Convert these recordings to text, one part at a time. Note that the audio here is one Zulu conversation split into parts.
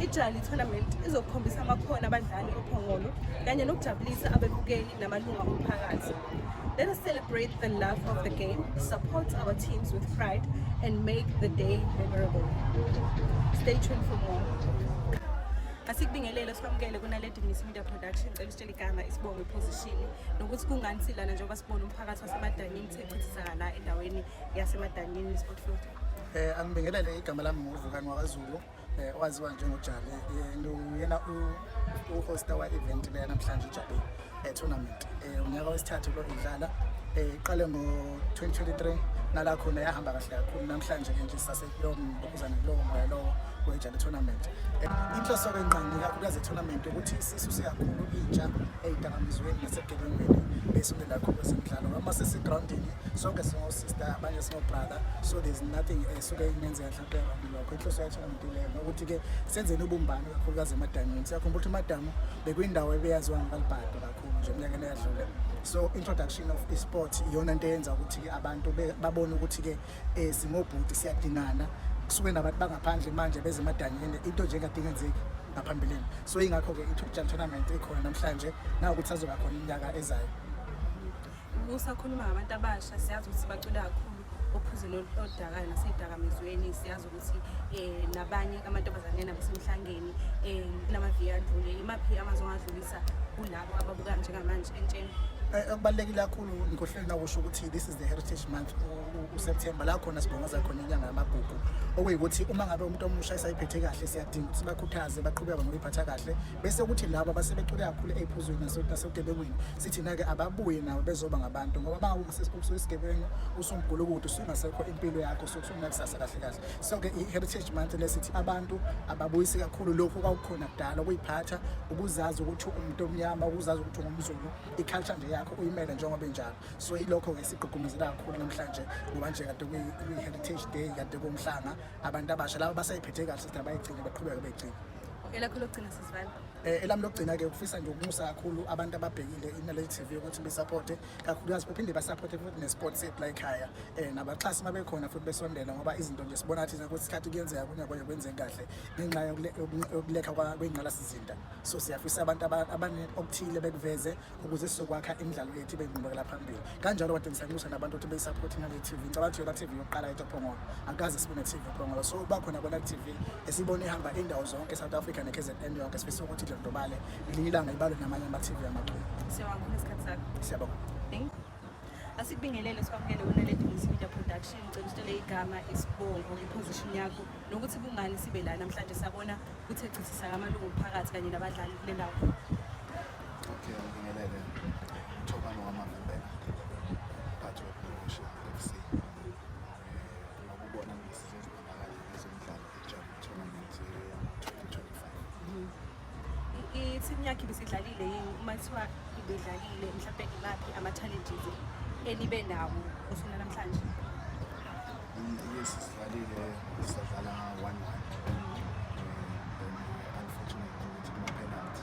Ijali Tournament izokukhombisa amakhono abadlali ophongolo kanye nokujabulisa abebukeli namalunga omphakathi. Let us celebrate the love of the game, support our teams with pride and make the day memorable. Stay tuned for more. asikubingelele sikwamukele kunaledi miss media production cela usitshele igama isibongo iposition nokuthi kungani silana njengoba sibona umphakathi wasemadanyini sechithisa la endaweni yasemadanyini sport field Eh angibingelele igama lami nguvukani wakwaZulu eh owaziwa njengojali uyena eh, u-hosta wa-event leya namhlanje ujabe eh, tournament eh unyaka wesithathu lo idlala eh iqale ngo-2023 nala khona yahamba kahle kakhulu namhlanje ke nje sasekulowo mbokuzane kulowo moya lowo wejali tournament eh, inhloso kwenqangi kakhulukazi etournament ukuthi sisuse kakhulu intsha eyidakamizweni nasebugebengweni besondela kakhulu kwezemidlalo uma sesigroundini sonke singosista abanye brother so there's nothing esuke ingenzeka mhlawumbe abantu lokho inhloso yathi ngileyo ukuthi ke senzeni ubumbano kakhulukazi emadamini siyakhumbula ukuthi amadamu bekuyindawo ebeyaziwa ngabalibhado kakhulu nje eminyakeni eyadlule so introduction of esport iyona into eyenza ukuthi ke abantu babone ukuthi ke eh, singobhuti siyadingana kusuke nabantu bangaphandle manje beze emadanyeni into nje engadingenzeki ngaphambilini so ingakho-ke i-top jam tournament ikhona namhlanje nawukuthi azoba khona iminyaka ezayo Usakhuluma ngabantu abasha siyazi ukuthi bacula kakhulu ophuzeni oludakayo nasedakamizweni siyazi ukuthi um nabanye amantombazane nabo semhlangeni um kunamaviyo adlule imaphi amazwi ongadlulisa kulabo ababuka njengamanje entsheni Eh, okubalulekile kakhulu ngikohleli nakusho ukuthi this is the heritage month useptember la khona sibongoza khona inyanga yamagugu okuyikuthi uma ngabe umuntu omusha esayiphethe kahle siyadinga ukuthi bakhuthaze baqhubeke ngoyiphatha kahle bese ukuthi labo abasebecule kakhulu ey'phuzweni nasebugebengwini sithina-ke ababuye nabo bezoba ngabantu ngoba ba usuisigebengu usumgulukude usungasekho impilo yakho usukusunakusasa kahle kahle so-ke i-heritage month lesithi abantu ababuyisi kakhulu lokhu kwakukhona kudala ukuyiphatha ukuzazi ukuthi umuntu omnyama ukuzazi ukuthi ungumzulu i-culture nje yakho uyimele njengoba enjalo so yilokho-ke sigqugqumezela kakhulu namhlanje ngoba nje kade kuyi-heritage day kade kumhlanga abantu abasha laba basayiphethe kahle sithi abayigcine baqhubeke beyigcine elakho lokugcina sisivale Eh, elami lokugcina ke ukufisa nje ukumusa kakhulu abantu ababhekile inaleli TV ukuthi besupporte kakhulukazi baphinde basupporte futhi nesports set la ekhaya eh nabaxhasi mabekhona futhi besondela ngoba izinto nje sibona thina ukuthi isikhathi kuyenzeka kunyaka konye kwenzeka kahle ngenxa yokulekha kwengqalasizinda so siyafisa abantu abaningi okuthile bekuveze ukuze sizokwakha imidlalo yethu ibe yinqubekela phambili kanjalo kade ngisanxusa nabantu ukuthi beyisaphothi ngale TV ngicabanga ukuthi yona TV yokuqala yethu ephongolo akaze sibe ne-TV ephongolo so uba khona kona TV esibona ihamba indawo zonke e-South Africa ne-KZN yonke sifisa ukuthi idlondobale ngelinye ilanga ibalwe namanye ama-TV amaculo siyabonga asikubingelele sikwamukele wena le Dingisi Media Production ngicela usitshele igama isibongo ngeposition yakho nokuthi kungani sibe la namhlanje sabona ukuthi echithisa amalungu omphakathi kanye nabadlali kule ndawo Okay, ngingelele. Thobani wamavimbela. Mphathi wePromotion FC. Ngokubona ngisizwe zibonakala ezomdlalo eJam Tournament ye-2025. ithimu yakhe ibisidlalile yini uma kuthiwa ibidlalile mhlawumbe imaphi ama-challenges enibe nawo usuku namhlanje Yes, sidlalile sadlala 1-1.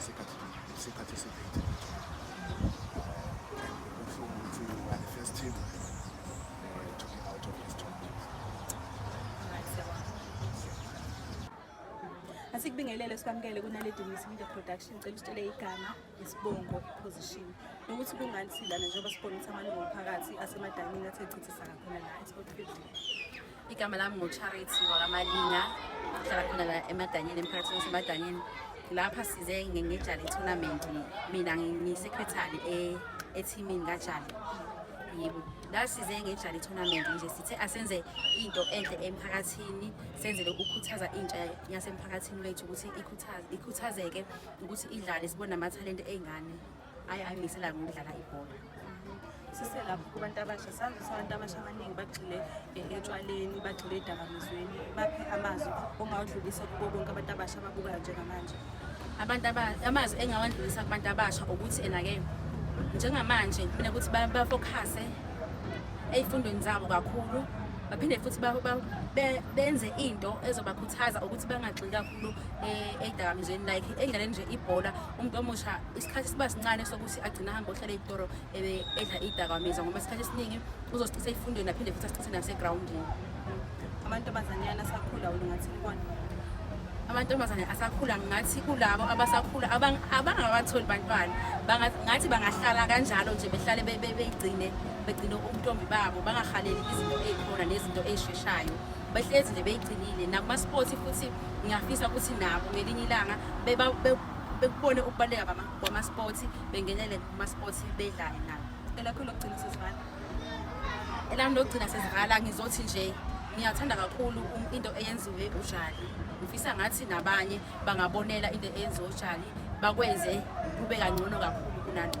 isikhathi isikhathi eside sikubingelele sikwamukele kunaledi ngisi media production cela usitshele igama isibongo iposition nokuthi kungani silana njengoba sibona ukuthi amalungu omphakathi asemadamini athe chithisa kakhona la esport 50 Igama lami nguCharity wakaMalinga, ngihlala khona la eMadanyeni, emphakathini waseMadanyeni. Lapha size ngejali tournament, mina ngiyisekretari e- ethimini kajali. Yebo, la size ngejali tournament nje sithe asenze into enhle emphakathini, senzele ukukhuthaza intsha yasemphakathini wethu ukuthi ikhuthaze ikhuthazeke ukuthi idlale sibone amathalente ey'ngane. ayi angimisela ngokudlala ibhola siselapho kubantu abasha sazi abantu abasha abaningi bagxile eh, etshwaleni bagxile edakamizweni baphe amazwi ongawadlulisa kubo bonke abantu abasha ababukayo njengamanje abantu amazwi engawadlulisa kubantu abasha ukuthi ena-ke njengamanje mina ukuthi bafokhase ey'fundweni zabo kakhulu baphinde futhi benze into ezobakhuthaza ukuthi bangagxili kakhulu eh, edakamizweni like endlaleni nje ibhola umuntu omusha isikhathi siba sincane sokuthi agcina ahambe ohlala eyitoro ebe edla iyidakamizwa ngoba isikhathi esiningi uzosicisa eyifundweni aphinde futhi asicise nasegrawundini amantombazanyana asakhula ulingathi likona amantombazane asakhula ngathi kulabo abasakhula abangabatholi bantwana ngathi bangahlala kanjalo nje behlale beyigcine begcine ubuntombi babo bangahaleli izinto ey'khona nezinto ey'sheshayo behlezi nje beyigcinile nakumasports futhi ngiyafisa ukuthi nabo ngelinye ilanga bekubone ukubaluleka kwamasports bengenele kumasports bedlale nabo elakho lokugcina sesivala elami lokugcina sesivala ngizothi nje ngiyathanda kakhulu into eyenziwe ujali ngifisa ngathi nabanye bangabonela into eyenziwe ujali bakwenze kube kangcono kakhulu kunalo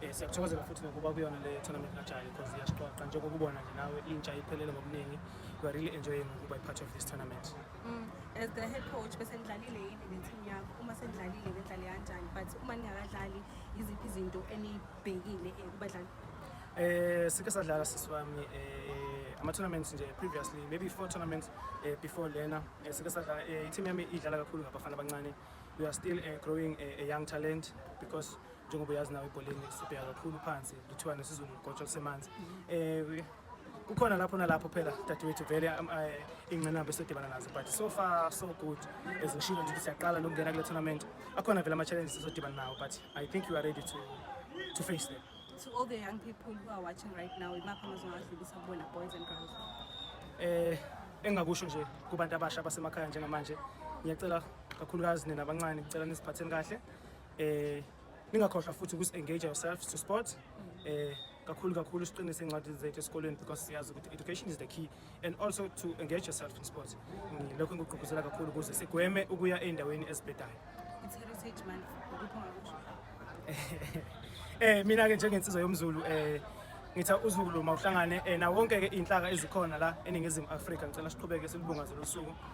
Eh, siyakuthokozela futhi nokuba kuyona le tournament kajali because iyasiqoqa njengoba ubona nje nawe intsha iphelele ngobuningi we are really enjoying ukuba part of this tournament mm. as the head coach bese nidlalile yini neteam yakho uma senidlalile nidlale kanjani but uma ningakadlali yiziphi izinto enibhekile eh, kubadlali eh sike sadlala sisi wami eh ama-tournaments nje previously maybe four tournaments eh, before lena eh, sike sadlala eh, i-team yami idlala kakhulu ngabafana abancane we are still eh, growing a, eh, a young talent because njengoba uyazi nawe ebholeni sibheka kakhulu phansi kuthiwa nesizulu ligotshwa kusemanzi um kukhona lapho nalapho phela dadewethu vele um, eh, ingqinamba esidibana nazo but so far so good as ngishilo nje ukuthi siyaqala nokungena kule tournament akhona vele ama-challenges esodibana nawo but i think you are ready to, to face them to all the young people who are watching right now imaphi amazongadlulisa kubona boys and girls eh engakusho nje kubantu abasha basemakhaya njengamanje ngiyacela kakhulukazi nina abancane ngicela nisiphatheni kahle eh ningakhohlwa futhi ukuthi engage yourself to sport eh kakhulu kakhulu siqinise incwadi zethu esikoleni because siyazi ukuthi education is the key and also to engage yourself in sports lokho ngikugqugquzela kakhulu ukuze sigweme ukuya ey'ndaweni ezibhedayo It's Heritage Month. Ukuphi ongakusho? eh mina ke njengensizwa yomzulu eh ngitha uzulu mawuhlangane eh na wonke ke inhlaka ezikhona la eningizimu Afrika ngicela siqhubeke silubungaze losuku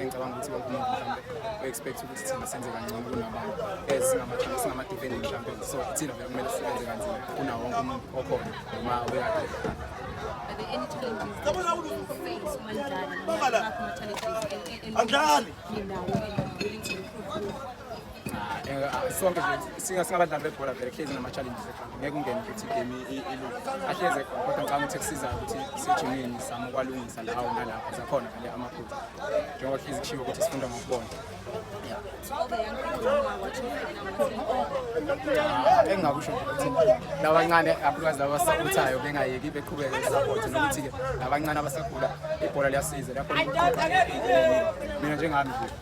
engicabanga ukuthi wonke umuntu mhlawumbe u-expect ukuthi thina senze kangcono kunabanye as singamathambi singamadefending mhlawumbe so thina vele kumele sisebenze kanzima kunawo wonke umuntu okhona noma uyakhe Anjani? sonke singabadlali bebhola vele kuhlezi nama-challenges ekhanda ngeke ungene ukuthi igame ilunge ahleze khona kodwa ngicanga ukuthi kusiza ukuthi sejimini sami ukwalungisa lawo nalapho zakhona vele amaphutha njengoba kuhlezi kushiwo ukuthi sifunda ngokubona engingakusho ukuthi labancane abukwazi laba abasakhuthayo bengayeki beqhubeke isapoti nokuthi-ke labancane abasakhula ibhola liyasiza lapho mina njengami nje